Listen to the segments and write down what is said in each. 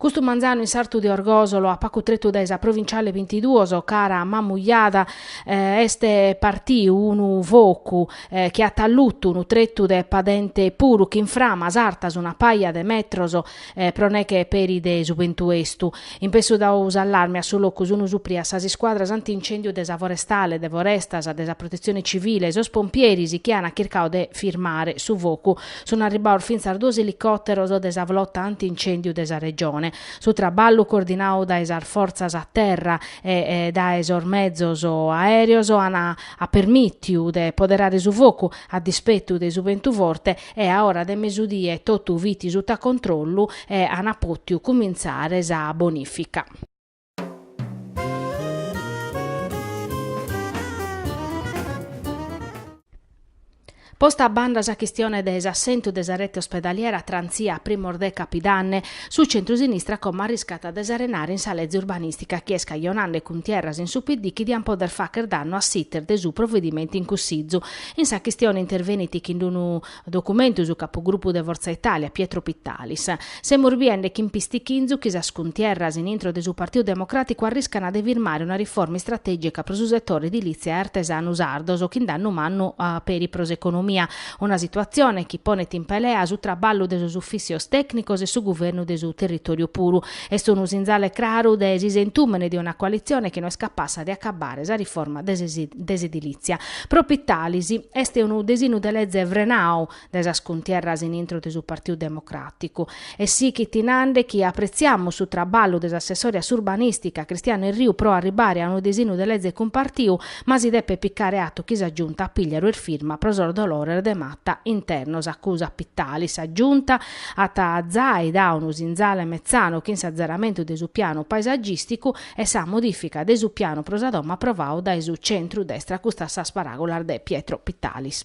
Custu manzanu in s'artu de Orgosolo, a pacu tretu dae sa provinciale bintiduos, cara a Mamujada, eh, est partiu unu focu, eh, chi at allutu unu tretu de padente puru, chin framas artas una paja de metros, pro neche peri de su bentu estu. In pessu dau s'allarme a su locu sunu suprias sas iscuadras anti-incèndiu de sa Forestale, de Forestas, de sa Protetzione Civile e sos pompieris chi an chircau de firmare su focu. Sunu arribbaos fintzas duos elicòteros de sa Flota anti-incèndiu de sa Regione. Su traballu, coordinau dae sas fortzas a terra e dae sos mezos aèreos, at permìtiu de poderare su focu, a dispetu de su bentu forte, e a ora de mesudie totu fit suta controllu e ana potiu cumintzare sa bonifica. Posta a banda sa chistione de s'assentu de sa rete ospedaliera transia a primos de Capidanne, su centrusinistra como arriscat de s'arenare in sa leze urbanìstica chi est cajonande cuntierras in su PD chi diant poder facher dannu a s'iter de su provedimentu in Cussizu In sa chistione intervenit chin d-unu documentu su capugrupu de Fortza Italia, Pietro Pittalis. Semus biende chin pistichinzu chi sas cuntierras in intro de su Partiu Democràticu arriscana de firmare una riforma istratègica pro su setore edilìtzia e artesanu sardos chin dannu mannu peri pro s'economia, una situatzione chi ponet in pelea su traballu de sos ufìssios tècnicos e su guvernu de su territòriu puru. Est unu sinzale craru de s'isentùmene de una coalitzione chi no est capassa de acabbare sa riforma de s'edilìtzia. Pro Pittalis est unu desinu de leze frenau dae sas cuntierras in intro de su Partiu Democràticu. E sighit nande chi apretziamus su traballu de s'assessore a s'urbanìstica Cristiano Erriu pro arribare a unu desinu de leze cumpartiu, ma si depet picare atu chi sa Giunta Pigliaru est firma pro sos dolores de mata internos, acusat Pittalis. Sa Giunta at zai dau unu sinzale metzanu chin s'atzeramentu de su pianu paesagìsticu e sa modìfica de su pianu pro sa domo aprovau dae su centrudestra, custas sas paràgulas de Pietro Pittalis.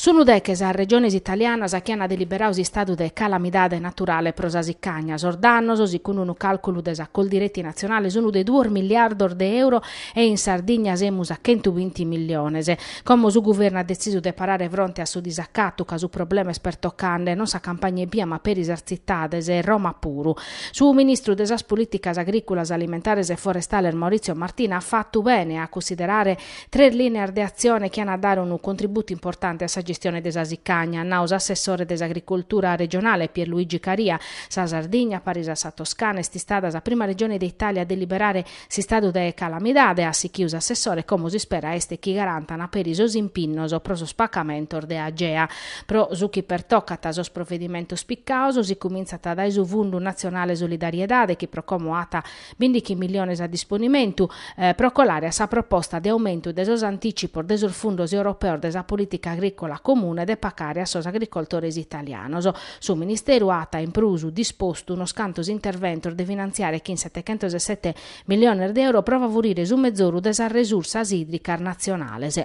Sunu deche sas regiones italianas chi ant deliberau s'istadu de calamidade naturale pro sa sicagna. Sos dannos, sicundu unu càlculu de sa Coldiretti natzionale, sunt de duos miliardos de euro e in Sardigna semus a chentu binti milliones. Como su guvernu at detzisu de parare fronte a su disacatu ca su problema est pertocande non sa campagna ebbia ma peri sas tzitades e Roma puru. Su ministru de sas Polìticas agrìculas, alimentares e forestales Maurizio Martina at fatu bene a cussiderare Tres lìneas de atzione chi ant a dare unu contributu importante a sa gestione de sa sicagna, at nau s'assessore de s'Agricultura regionale Pierluigi Caria. Sa Sardigna, paris a sa Toscana, est istada sa prima regione de Itàlia a deliberare s'istadu de calamidade, at sichiu s'assessore, como s'ispera est chi garantan peri sos impinnos pro sos pacamentos de Agea. Pro su chi pertocat sos provedimentos picados, si cumintzat dae su Fundu Natzionale Solidariedade chi pro como at Bindighi milliones a disponimentu pro colare a sa proposta de aumentu de sos anticipos de sos fundos europeos de sa politica agricola comune de pacare a sos agricoltores italianos. Su Ministeru at in prus dispostu unos cantos interventos de finantziare chin setechentos e sete milliones de euro pro favurire su mezoru de sas resursas idricas natzionales.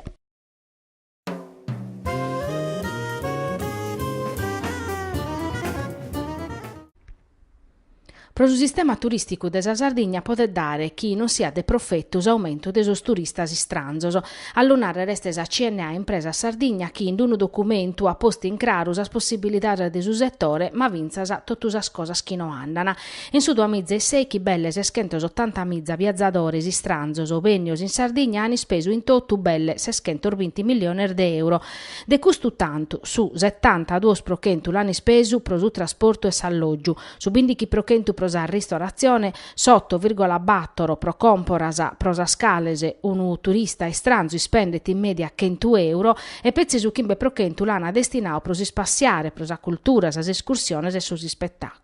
Pro su sistema turìsticu de sa Sardigna podet dare chi non siat de profetu s'aumentu de sos turistas istranzos. A lu nàrrere est sa CNA Impresa Sardigna chi in d-unu documentu at postu in craru sas possibilidades de su setore ma fintzas totu sas cosas chi no andan. In su duamiza e sèichi belle seschentos otantamiza viazadores istranzos bennios in Sardigna an ispesu in totu belle seschentos binti milliones de euro. De custu tantu, su setanta duos pro chentu l'an ispesu pro su trasportu e s'allògiu, su bindighi pro chentu pro sa ristoratzione, s'oto virgola bator pro còmporas, pro sas cales unu turista istranzu ispendet in mèdia chentu euro, e petzi su chimbe pro chentu l'an destinadu pro s'ispassiare, pro sa cultura, sas escursiones e sos ispetàculos.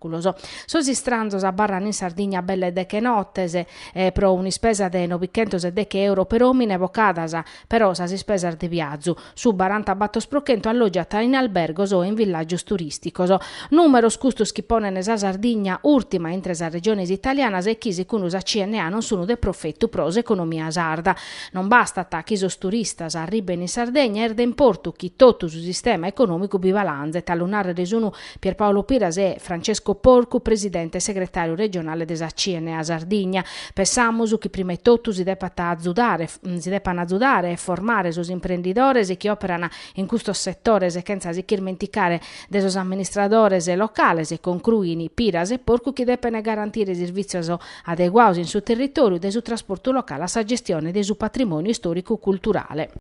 Sos istranzos abarran in Sardigna belle deche nottes pro un'ispesa de nobichentos e deche euro per omine bocadas, però sas ispesas de viazu, su baranta battor pro chentu allogiat in albergos o in villagios turisticos. Numeros custos chi ponen sa Sardigna urtima intre sas regiones italianas e chi sicundu sa CNA non sun de profettu pro s'economia sarda. Non bastat chi sos turistas arriben in Sardegna, est de importu chi tottu su sistema economicu bi balanzet, a lu narrer sun Pierpaolo Piras e Francesco Porcu, presidente e segretàriu regionale de sa CNA Sardigna. Pensamus chi prima 'e totu si depat azudare, si depan azudare e formare sos imprendidores chi òperan in custos setores chentza si ch'irmenticare de sos amministradores locales, concruin Piras e Porcu chi depen garantire servìtzios adeguados in su territòriu, dae su trasportu locale a sa gestione de su patrimòniu istòricu-culturale.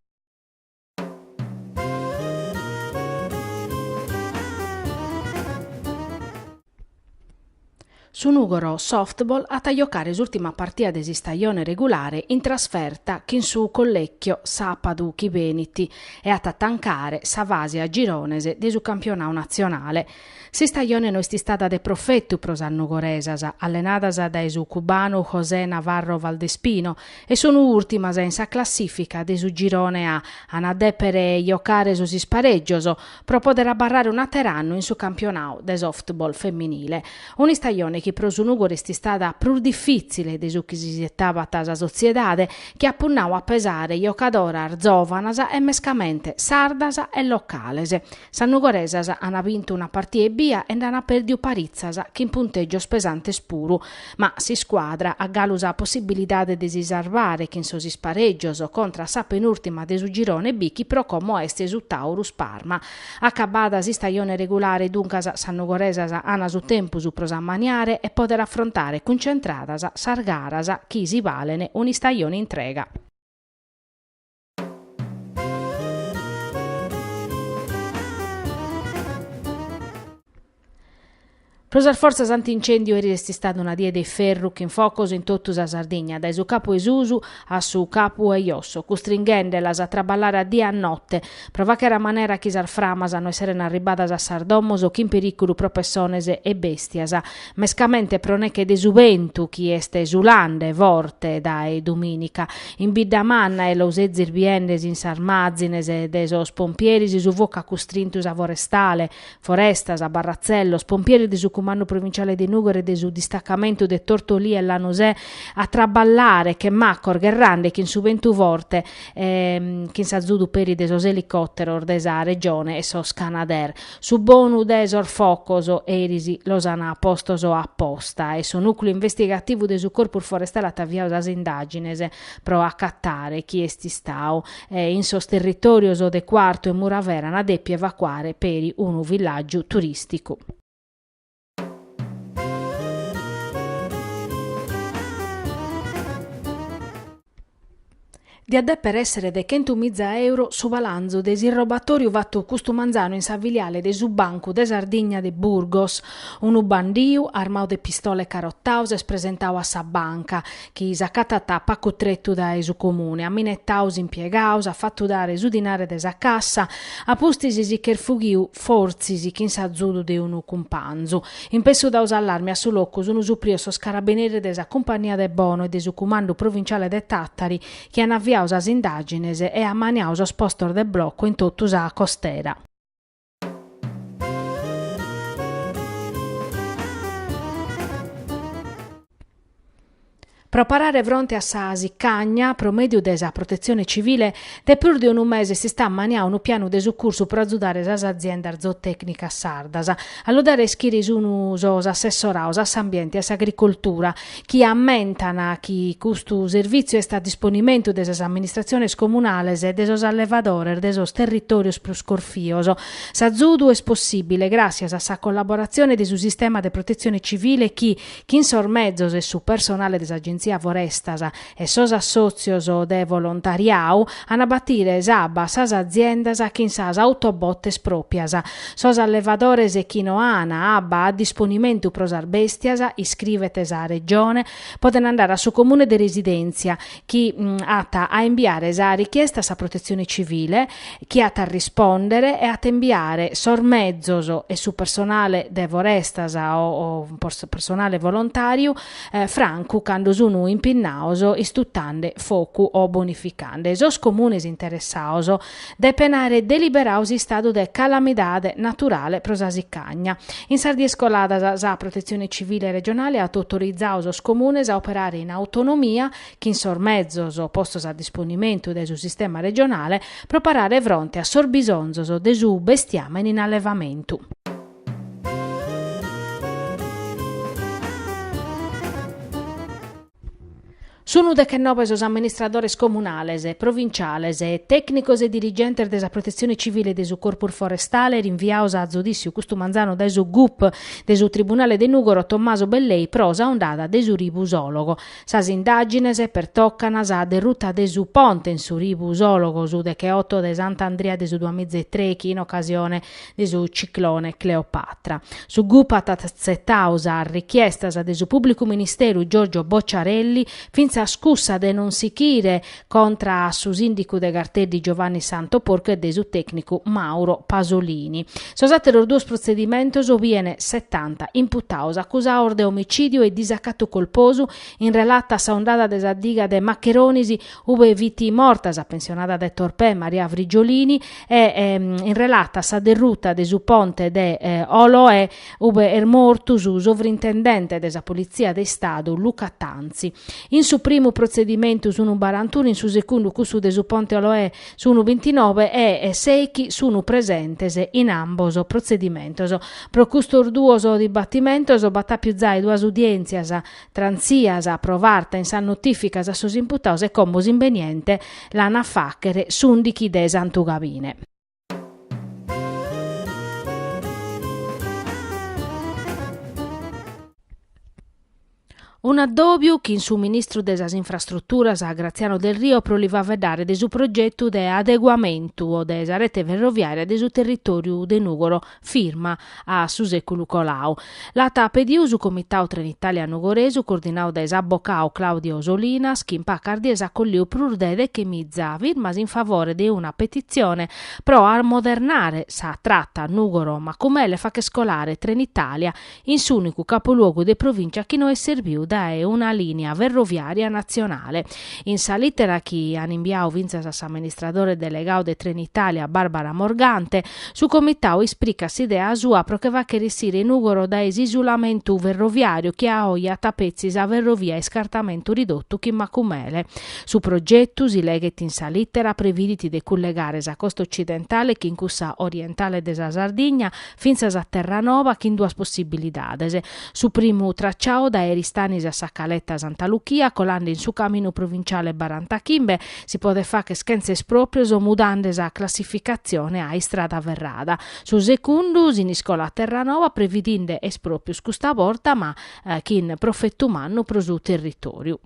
Su Nùgoro Softball at a jocare s'ùrtima partida de s'istajone regulare in trasferta chin su Collecchio sàpadu chi benit e at a tancare sa fase a girones de su campionadu natzionale S'istajone no est istada de profetu pro sas nugoresas, allenadas dae su cubanu José Navarro Valdespino, e sunu ùrtimas in sa classìfica de su Girone A, an a dèpere jocare sos isparègios pro pòdere abarrare un'àteru annu in su campionadu de softball feminile. Un'istajone chi pro su Nùgoro est istada prus difìtzile de su chi s'isietabat sa sotziedade, chi at punnadu a pesare jocadoras zòvanas e mescamente sardas e locales. Sas nugoresas an bintu una partia ebbia e nd'an pèrdiu paritzas, chin puntègios pesantes puru. Ma s'iscuadra at galu sa possibilidade de si sarvare chin sos isparègios contra a sa penùrtima de su girone B chi pro como est su Taurus Parma. Acabbada s'istajone regulare duncas sas nugoresas an su tempus pro s'ammaniare e pòdere afrontare cuncentradas sas garas chi si balen un'istajone intrega. Pro sas fortzas anti-incèndiu eris est istada una die de ferru chin focos in totu sa Sardigna, dae su capu 'e susu a su capu 'e josso, custringhendelas a traballare a die e a note, pro fàchere a manera chi sas framas no esserent arribbadas a sas domos chin perìculu pro pessones e bèstias. mescamente pro neche de su bentu chi est sulande forte dae domìnica. In Biddamanna, e los sezis biendes in sas màzines de sos pompieris su focu at custrintu sa forestale, Forestas, barratzellos, pompieris de su Cumandu Provinciale de Nùgoro e de su distacamentu de Tortolì e Lanusè, a traballare che macos gherrande chin su bentu forte e chin s'azudu peri de sos elicòteros de sa Regione e sos Canadair. Su bonu de sos focos, eris, los an postos a posta e su nùcleu investigativu de su Corpus Forestale at aviadu sas indàgines pro acatare chie est istadu e, in sos territòrios de Cuartu e Muravera, an dèpiu evacuare peri unu villàgiu turìsticu. Diat dèpere èssere de chentu miza euro su balanzu de s'irrobatoriu fatu custu manzanu in sa filiale de su Bancu de Sardigna de Burgos. Unu bandiu, armau de pistola e carotau, s'est presentau a sa banca. chi s'acatat a pacu tretu dae su Comune, at minetadu s'impiegadu, s'at fatu dare su dinare de sa cassa, a pustis si ch'est fughiu, fortzis chin s'azudu de unu cumpanzu. In pessu dadu s'allarmi a su locu sunu suprios sos carabineris de sa Cumpagnia de Bono e de su Cumandu Provinciale de Tàtari chi an aviadu sas indàgines e amaniadu sos postos de blocu in totu sa costera. Pro parare fronte a sa sicagna, pro mèdiu de sa Protetzione Civile, de prus de unu mese s'est ammaniadu unu pianu de sucursu pro azudare sas aziendas zootècnicas sardas. A lu dare a ischire sunt sos assessorados a s'Ambiente e a s'Agricoltura. chi ammentan chi custu servìtziu est a disponimentu de sas amministratziones comunales e de sos allevadores de sos territòrios prus corfios. S'azudu est possìbile gràssias a sa collaboratzione de su sistema de protetzione civile chi, chin sos mezos e su personale de s'Agenzia Forestas, e sos assòtzios de volontariadu an a batire s'abba a sas aziendas chin sas autobotes pròpias. Sos allevadores chi no an abba a disponimentu pro sas bèstias, iscrivet sa Regione, podent andare a su Comune de residèntzia, chi at a imbiare sa richiesta a sa Protetzione Civile, chi at a rispòndere e at a imbiare sos mezos e su personale de forestas o personale volontàriu, francu cando sunu impinnados istutande focu o bonificande sos comunes interessados, depen àere deliberadu s'istadu de calamidade naturale pro sa sicagna. In sas dies coladas sa Protetzione Civile regionale at autorizadu sos comunes a operare in autonomia, chin sos mezos postos a disponimentu dae su sistema regionale, pro parare fronte a sos bisonzos de su bestiamene in allevamentu. Sunu dechenobe sos amministradores comunales, provinciales, tècnicos e dirigentes de sa Protetzione Civile e de su Corpus Forestale rinviados a zudìssiu custu manzanu dae su gup de su tribunale de Nùgoro Tommaso Bellei pro sa ondada de su ribu Sòlogo. Sas indàgines pertocant sa derruta de su ponte in su ribu Sòlogo su decheoto de Sant'Andria de su duamiza e trèichi in ocasione de su ciclone Cleopatra. Su gup at atzetau sas richiestas de su pubblicu ministeru Giorgio Bocciarelli, fintzas cussa de non sichire contra a su sindicu de Garteddi Giovanni Santo Porcu e de su tecnicu Mauro Pasolini. Sos ateros duos protzedimentos bien setanta imputaos acusaos de omicidiu e disacatu colposu in relata a sa ondada de sa diga de Maccheronis ube fit morta sa pensionada de Torpè Maria Frigiolini e ehm, in relata a sa derruta de su ponte de eh, Oloe ube est mortu su sovrintendente de sa Politzia de Istadu Luca Tanzi. In su primu protzedimentu sunu barantunu, in su segundu cussu de su ponte Oloe sunu bintinove e eh, seichi sunu presentes in ambos protzedimentos. Pro custos duos dibatimentos b'at àpiu zai duas udièntzias transias pro farta in sas notìficas a sos imputados e como s'imbeniente l'an a fàchere s'ùndighi de Santu Gabine. Un'addòbiu chin su ministru de sas Infrastruturas Graziano Delrio pro li faveddare de su progetu de adeguamentu de sa rete ferroviària de su territòriu de Nùgoro, firma a su sèculu colau. L'at pediu su Comitau Trenitalia Nugoresu coordinau dae s'abocau Claudio Solinas chi in pacas dies at colliu prus de dechemiza firmas in favore de una petitzione pro amodernare sa trata Nùgoro-Macumele e fàcher colare Trenitalia in s'ùnicu capoluogu de provìncia chi no est serbiu dae una lìnia ferroviària natzionale. In sa lìtera chi an imbiadu fintzas a s'amministradore delegadu de Trenitalia Barbara Morgante, su comitadu ispricat s'idea sua pro che fàghere issire Nùgoro dae s'isulamentu ferroviàriu chi a oje at petzi sa ferrovia a iscartamentu ridotu chin Macumele. Su progetu, si leghet in sa lìtera, previdit de cullegare sa costa otzidentale chin cussa orientale de sa Sardigna, fintzas a Terranova chin duas possibilidades, su primu tracciau dae Eristanis a Sa Caleta Santa Luchia colande in su caminu provinciale barantachimbe si podet facher chentza esproprios mudande sa classificatzione a istrada ferrada, su segundu Siniscola a Terranova previdinde esproprios custa borta ma chin profetu mannu pro su territoriu.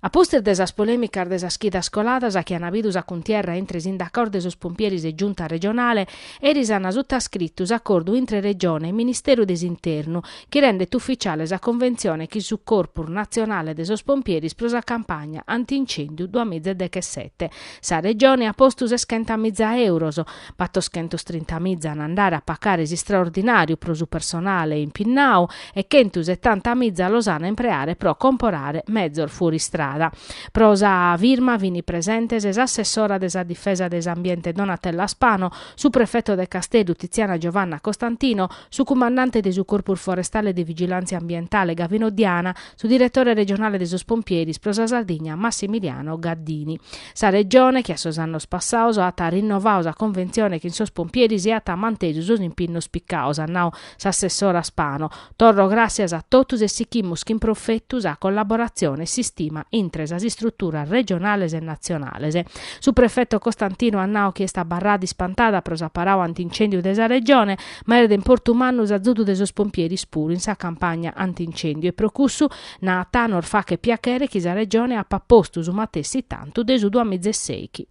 A pustis de sas polèmicas de sas chidas coladas chi an bidu sa cuntierra intre sindacaos de sos pompieris e Giunta regionale, eris an sutascritu s'acordu intre Regione e Ministeru de s'Internu chi rendet ufficiale sa conventzione chin su Corpus natzionale de sos pompieris pro sa campagna anti-incèndiu duamiza e dechesete. Sa Regione at postu seschentamiza euros, battoschentostrintamiza an a andare a pacare s'istraordinàriu pro su personale impinnadu e chentusetanta miza los an a impreare pro comporare mezos fuoristrada. Pro sa firma fini presentes s'assessora de sa Difesa de s'Ambiente Donatella Spano, su prefeto de Casteddu Tiziana Giovanna Costantino, su cumandante de su Corpus Forestale de Vigilàntzia Ambientale Gavino Diana, su diretore regionale de sos Pompieris pro sa Sardigna Massimiliano Gaddini. Sa Regione, che a sos annos passados at rinnovadu sa conventzione chin sos Pompieris e at mantesu sos impinnos picados, at nau S'assessora Spano, Torro gràssias a totus e sichimus chin profetu sa collaboratzione e s'istima intre sas istruturas regionales e natzionales. Su prefeto Costantino at nau chi est abarrada ispantada pro s'aparau ant'incèndiu de sa Regione, ma est de importu mannu s'azudu de sos pompieris puru in sa campagna ant'incèndiu e pro cussu, naat, nos fachet piachere chi sa Regione apat postu su matessi tantu de su duamiza e sèichi.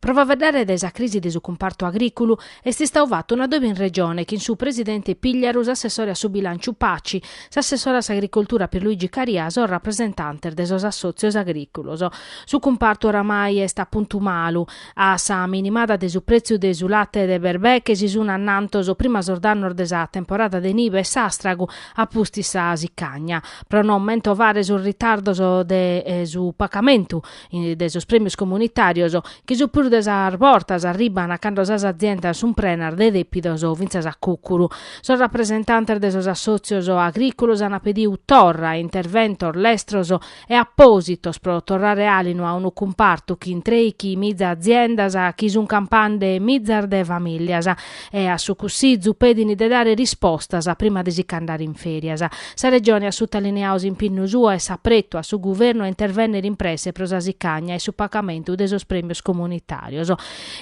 Pro faeddare de sa crisi de su cumpartu agrìculu est istadu fatu un'adòbiu in Regione chin su presidente Pigliaru, s'assessore a su bilànciu Paci, s'assessore a s'agricoltura Pierluigi Caria e sos rapresentantes de sos assòtzios agrìculos. Su cumpartu oramai est a puntu malu. A sa minimada de su pretziu de su late de berbeche si sun annantos prima sos dannos de sa temporada de nive e s'astragu a pustis sa sicagna. Pro no mentovare sos ritardos de su pacamentu de sos premios comunitarios, chi su prus de sas bortas arribban cando sas aziendas sun prenas de depidos o fintzas a cucuru, sos rapresentantes de sos assotzios agriculos an pediu torra interventos lestros e apòsitos pro torrare àlinu a unu cumpartu chi in trèichi miza aziendas sun campande mizas de famìllias e a su Cussizu pedin de dare rispostas prima de si c'andare in fèrias. Sa Regione at sutalineadu s'impinnu suo e s'apretu a su Guvernu a intervènnere in presse pro sa sicagna e su pagamentu de sos prèmios comunitàrios.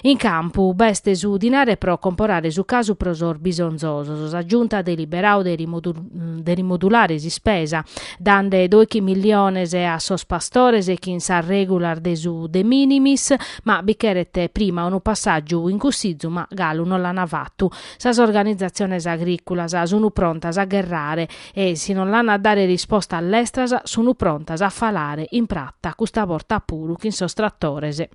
In campu b'est su dinare pro comporare su casu pro sos bisonzosos. Sa Giunta at deliberadu de rimodulare s'ispesa dande doichi milliones a sos pastores chin sas regulas de su de minimis, ma bi cheret prima unu passàgiu in Cussizu, ma galu non l'ana fatu. Sas organizatziones agriculas sunu prontas a gherrare e si non l'an a dare rispostas lestras sunu prontas a falare in prata custa borta puru chin sos trattores.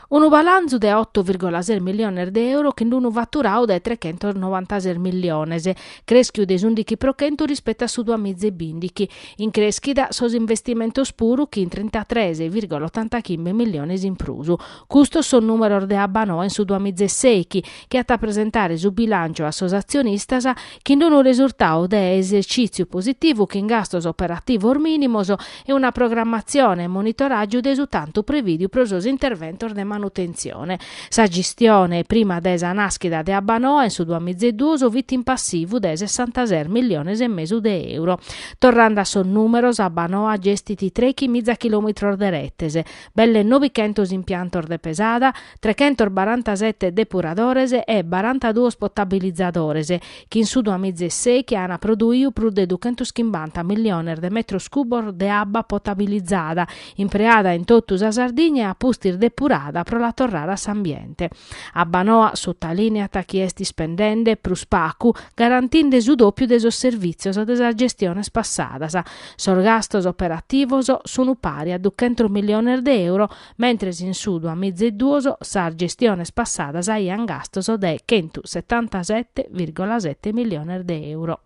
Unu balanzu de oto virgola ses miliones de euro chin d'unu faturadu de trechentos novantases miliones, crèschiu de s'undichi pro chentu rispetu a su duas miza e bindighi. In crèschida sos investimentos puru chin trintatres virgola otantachimbe miliones in prus. Custos sos nùmeros de Abbanoa in su duas miza e sèichi chi at a presentare su bilànciu a sos atzionistas, chin d'unu resurtau de esercìtziu positivu chin gastos operativos mìnimos e una programmatzione e monitoràgiu de su tantu prevìdiu pro sos interventos de manutentzione. Sa gistione prima de sa nàschida de Abbanoa in su duas miza e duos fit in passivu de sessantases milliones e mesu de euro. Torrende a sos nùmeros, Abbanoa gestit trèichi miza chilòmitros de retes, belle novichentos impiantos de pesada, trechentos barantasete depuradores e barantaduos potabilizadores, chi in su duamiza e sèichi ant produiu prus de duchentos chimbanta milliones de metros cubos de abba potabilizada, impreada in totu sa Sardigna e a pustis depurada pro la torrare a s'ambiente. Abbanoa sutalineat chi est ispendende prus pagu, garantinde su dòpiu de sos servìtzios de sas gestiones passadas. Sos gastos operativos sunt pari a duchentos milliones de euro, mentres in su duamiza e duos sas gestiones passadas aiant gastos de chentu setantasette virgola sette milliones de euro.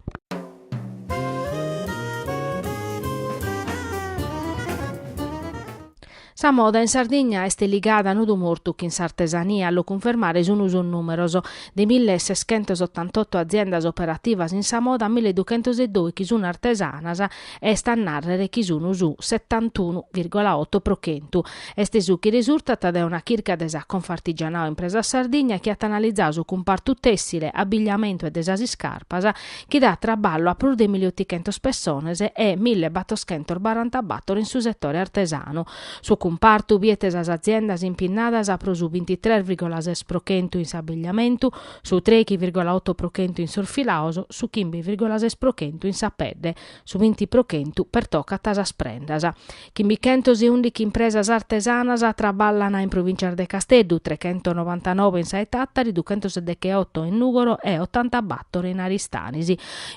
Sa moda in Sardigna est ligada a nodu mortu chin s'artesania, a lu cunfermare sun sos numeros, de mille e seschentos ottantotto aziendas operativas in sa moda mille duchentos e dòichi sun artesanas Est a nàrrere chi sunu su setantunu virgola oto pro chentu. Est su chi resurtat dae una chirca de sa Confartigianao Impresas Sardigna chi at analizadu su cumpartu tèssile, abbigliamentu e de sas iscarpas, chi dat traballu a prus de milli otichentos pessones e mille battoschentos barantabator in su setore artesanu. Su cumpartu biet sas aziendas impinnadas pro su bintitres virgola ses pro chentu in s'abbigliamentu, su trèichi virgola oto pro chentu in sos filaos, su chimbe virgola ses pro chentu in sa pedde, su binti pro chentu pertocat sas prendas. Chimbichentos e ùndighi impresas artesanas traballan in provìncias de Casteddu, trechentonovantanove in sa 'e Tàtari, duchentoseddecheoto in Nùgoro e otantabàtoro in Aristanis.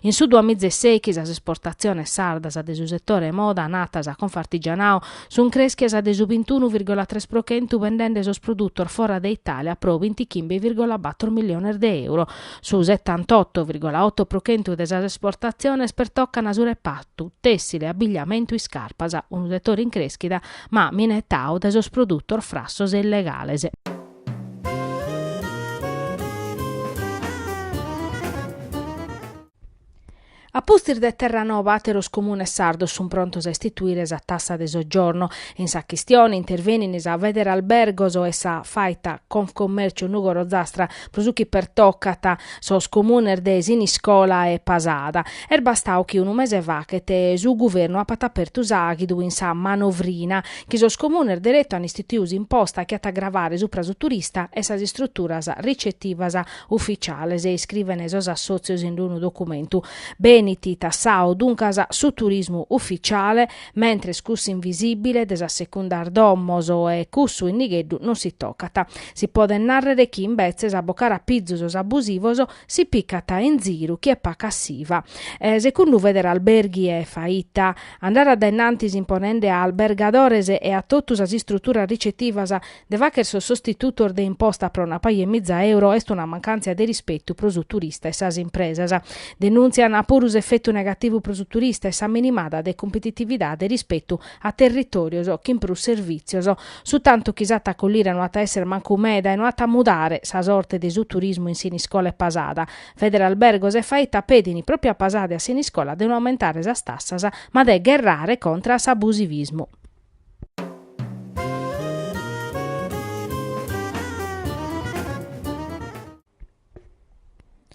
In su duamiza e sèighi sas esportatziones sardas de su setore moda, nat sa Confartigianao, Sunt crèschias de su bintunu virgola tres pro chentu bendende sos produtos fora de Itàlia pro bintichimbe virgola bator miliones de euro. Su setantotto virgola otto pro chentu de sas esportatziones pertocan su repartu tèssile, abigliamentu, iscarpas, unu setore in crèschida ma minetadu dae sos produtos frassos e illegales. A pustis de Terranova àteros comunes sardos sun prontos a istituire sa tassa de soggiorno. In sa chistione intervenint sa Federalbergos e sa Faita Confcommercio Nùgoro-Ozastra, pro su chi pertocat sos comunes de Siniscola e Pasada. Est bastadu chi unu mese faghet su guvernu apat apertu s'àghidu in sa manovrina chi sos comunes deretu an istituidu s'imposta chi at a gravare supra su turista e sas istruturas ricetivas ufficiales, iscrivene sos assotzios in d-unu documentu. Benit tassadu, duncas, su turismu ufficiale, mentres cussu invisibile de sas secundas domos e cussu in nigheddu non si tocat. Si podet narrere chi, imbetzes, a bocare a pizu sos abusivos, si picat in ziru chie pacat s'iva. Secundu Federalberghi e Faita, andare a dae innantis imponende a albergadores e a totu sas istruturas ricetivas De fagher sos sostitutos de imposta pro una paja 'e miza euro est una mancàntzia de rispetu pro su turista e sas impresas. Denùntzian puru s'efetu negativu pro su turista e sa minimada de competitividade rispetu a territòrios chin prus servìtzios. Su tantu chi s'at a collire no at a èssere mancu meda e no at a mudare sa sorte de su turismu in Siniscola e Pasada. Federalbergos e Faita pedin pròpiu a Pasada e a Siniscola de no aumentare sas tassas ma de gherrare contra a s'abusivismu.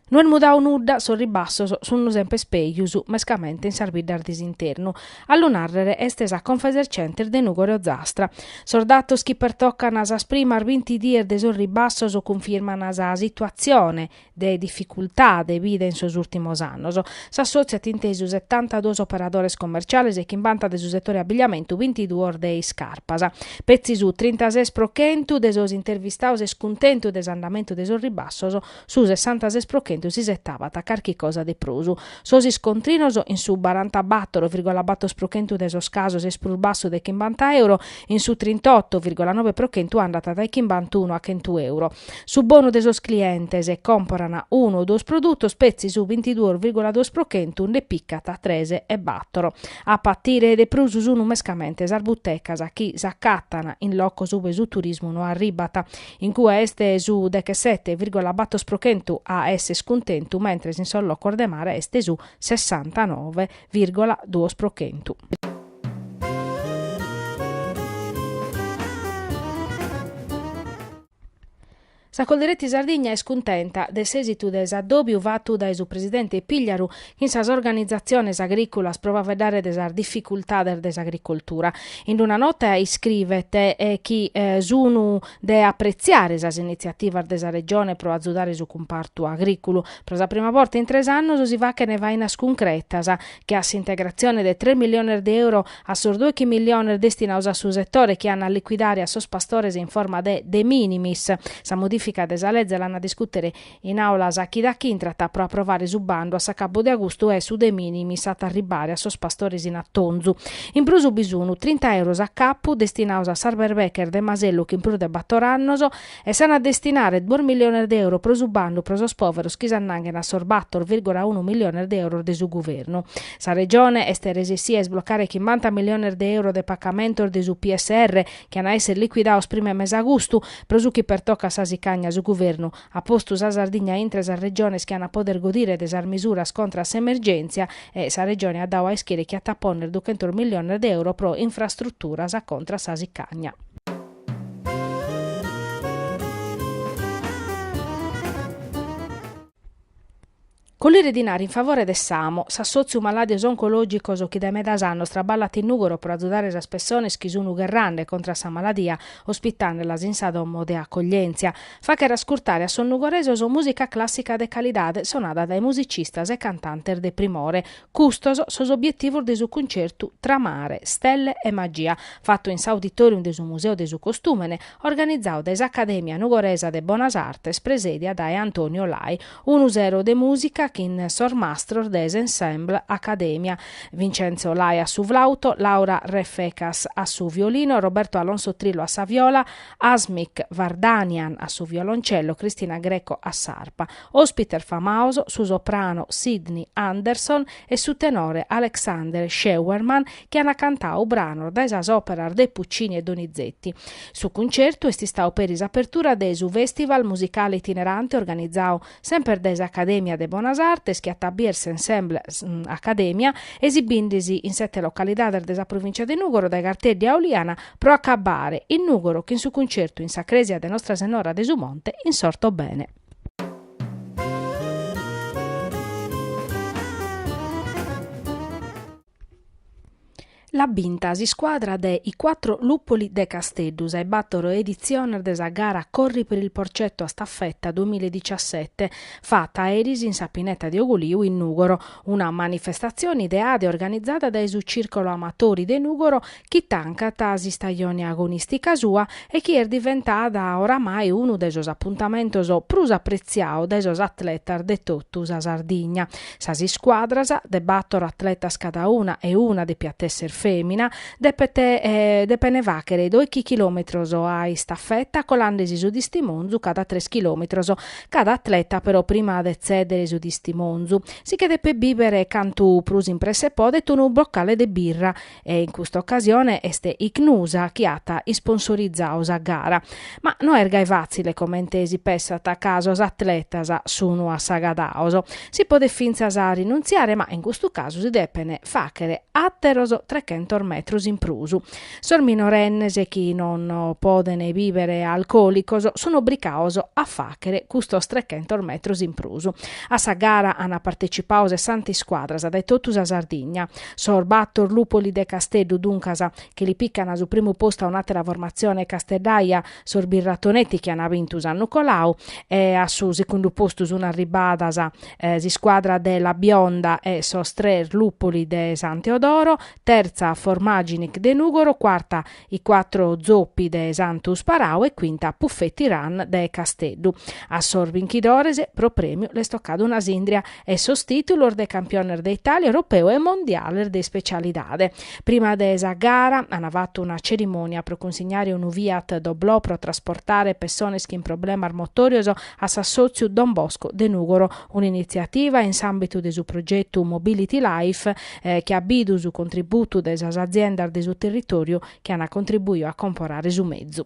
No est mudadu nudda, sos ribassos sun sempres pejus, mescamente in sas biddas de s'internu. A lu narrere est sa Confesercentes de Nùgoro e Ozastra. Sos datos chi pertocan sas primas binti dies de sos ribassos cunfirman sa situatzione, de dificultade bida in sos ùrtimos annos. S'assòtziu at intesu setantaduos operadores commerciales, chimbanta de su setore abigliamentu, bintiduos de iscarpas. Petzi su trintases pro chentu de sos intervistados est cuntentu de s'andamentu de sos ribassos, su sessantases pro chentu s'isetabat carchi cosa de prus. Sos iscontrinos in su barantabator virgola bator pro chentu de sos casos est prus bassu de chimbanta euro, in su trintotto virgola nobe pro chentu andat dae chimbantunu a chentu euro. Su bonu de sos clientes, comporan unu o duos produtos petzi su bintiduos virgula duos pro chentu nde picat tres e battor. A patire de prus sun mescamente sas butecas chi s'acatan in locos ube su turismu no arribat. In cue est su dechesete virgola battor pro chentu a esser cuntentu mentres in sos locos de mare est su sessanta nove virgola duos pro chentu. Sa Coldiretti Sardigna est cuntenta de s'èsitu de s'addòbiu fatu dae su presidente Pigliaru chin sas organizatziones agrìculas pro faveddare de sas dificultades de s'agricoltura. In una nota iscrivet chi sun de apretziare sas initziativas de sa Regione pro azudare su cumpartu agrìculu. Pro sa prima borta in tres annos si fachen fainas cuncretas che a s'integratzione de tres milliones de euro a sos dòichi milliones destinados a su setore chi an a licuidare a sos pastores in forma de de minimis. Sa modifica de sa leze l'an a discùtere in àula sa chida chi intrat pro aprovare su bandu a s'acabu de agustu e su de minimis at a arribare a sos pastores in atonzu. In prus bi sun trinta euros a capu destinados a sas berbeches de masellu chin prus de bator annos E s'an a destinare duos milliones de euro pro su bandu pro sos pòveros chi s'annanghen a sos bator virgola unu milliones de euros de su guvernu. Sa Regione est resessida a isblocare chimbanta milliones de euro de pacamentos de su PSR chi an a èssere liquidados prima 'e mese agustu. Pro su chi pertocat sa sicagna su guvernu at postu sa Sardigna intre sas Regiones chi an a poder godire de sas misuras contra a s'emergèntzia e sa Regione at dadu a ischire chi at a pònnere duchentos milliones de euro pro infrastruturas contra a sa sicagna. Collire dinare in favore de s'AMO, s'assòtziu malàdios oncològicos chi dae medas annos traballat in Nùgoro pro azudare sas pessones chi sun gherrande contra a sa maladia ospitandelas in sa domo de acoglièntzia, facher ascurtare a sos nugoresos mùsica clàssica de calidade sonada dae musicistas e cantantes de primore, Custos sos obietivos de su cuncertu Tra mare, stelle e magia, fatu in s'Auditorium de su Museu de su Costùmene, organizadu dae s'Acadèmia Nugoresa de Bonas Artes presèdia dae Antonio Lai, unu sero de mùsica chin sos mastros de s'Ensemble Acadèmia, Vincenzo Lai a su flauto, Laura Refecas a su violino, Roberto Alonso Trillo a sa viola, Asmik Vardanian a su violoncello, Cristina Greco a s'arpa. Òspites famaos su soprano Sydney Anderson e su tenore Alexander Scheuermann chi ant cantadu branos dae sas òperas de Puccini e Donizetti. Su cuncertu est istadu peri s'apertura de su Festival musicale itinerante organizadu semper dae s'Acadèmia de Bonas Artes chi at a bider s'ensemble Acadèmia esibinde-si in sete localidades de sa provìncia de Nùgoro dae Garteddi a Auliana pro acabbare in Nùgoro chin su cuncertu in sa crèsia de Nostra Senora de su Monte in s'Ortobene. L'at binta s'iscuadra de I Quattro Luppoli de Casteddu, sa 'e battor editziones de sa gara Corri per il Porcetto a Staffetta duamilla e dixiasete, fata eris in sa pineta de Ugoliu in Nùgoro, una manifestatzione ideada e organizada dae su Circolo Amatori de Nùgoro chi tancat s'istajone agonìstica sua e chi est diventada oramai unu de sos apuntamentos prus apretziados dae sos atletas de totu sa Sardigna. Sas iscuadras, de bator atletas cadauna e una depiat èssere fèmina, depene fàghere doighi chilòmetros a istafeta colande·si su tistimonzu cada tres chilòmetros. Cada atleta però prima de tzèdere su tistimonzu, si che depet bìvere cantu prus in presse podet unu bocale de birra e in custa ocasione est Icnusa chi at isponsorizadu sa gara, ma no est gai fàtzile comente si pessat ca sos atletas sun assagadados, si podet fintzas rinuntziare ma in custu casu si depen fàghere àteros trechentos metros in prus. Sos minorennes chi non podent bìvere alcòlicos sun obricaos a fàghere custos trechentos metros in prus. A sa gara ant partecipadu sessanta iscuadras dae totu sa Sardigna, Sos bator luppoli de Casteddu, duncas, chi li piccan su primu postu a un'àtera formatzione casteddaia, sos birratonetti chi an bintu s'annu coladu e a su segundu postu sun arribbadas s'iscuadra de La Bionda e sos tres luppoli de San Teodoro, tertza Formaginic de Nùgoro, cuarta I quattro zoppi de Santu Sperau e quinta Puffetti Run de Casteddu. A sos binchidores pro prèmiu l'est tocada una sìndria e sos tìtulos de campiones de Itàlia, Europeu e Mondiales de ispecialidade. Prima de sa gara an fatu una cerimònia pro cunsignare unu Fiat Doblò pro trasportare pessones chin problemas motòrios a s'assòtziu Don Bosco de Nùgoro, un'initziativa in s'àmbitu de su progetu Mobility Life chi at bidu su contributu de sas aziendas de su territòriu chi ant contribuiu a comporare su mezu.